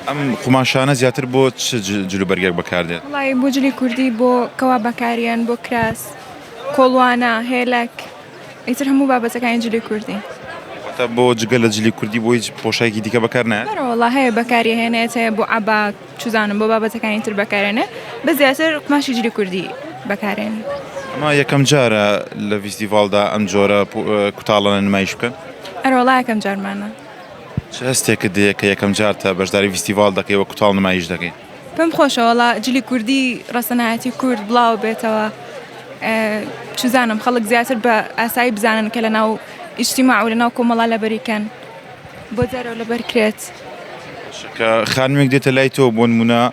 ئەم قوماشانە زیاتر بۆ چ جلوبەرگێک بەکاردێت؟ وڵی بۆ جلی کوردی بۆ کەوا بەکاریان بۆ کراس کۆڵوانە هێلک ئیتر هەموو بابەتەکانی جلی کوردی تا بۆ جگە لە جلی کوردی بۆ هیچ پۆشایکی دیکە بەکارنایە بەرەوەڵا هەیە بەکاری هێنێت هەیە بۆ عبا چزانم بۆ بابەتەکانی تر بەکارێنێ بە زیاتر قماشی جلی کوردی بەکارێن ئەما یەکەم جارە لە فیستیڤالدا ئەم جۆرە کوتاڵە نمایش بکەن ئەرۆڵا یەکەم جارمانە چ هەستێکت دەیە کە یەکەم جارتە بەشداری ڤیستیڤاڵ دەکەی وە کوتاڵ نمایش دەکەی؟ پێم خۆشە وەڵا جلی کوردی ڕەسەنایەتی کورد بڵاو بێتەوە چزانم خەڵک زیاتر بە ئاسایی بزانن کە لە ناو ئیشتیما و لە ناو کۆمەڵا لەبەریکەن بۆ جارەوە لەبەرکرێت. شکە خانمێک دێتە لای تۆ بۆن منە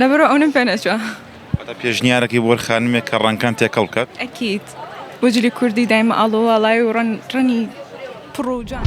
لەبەرو ئەونم پێ نەچوە. واتە پێشنیارەکەی بۆر خانمێک کە ڕەنکان تێکەڵ بکات. ئەکید بۆ جلی کوردی دایمە ئاڵۆ واڵای و ڕەن ڕەنی پڕ و جان.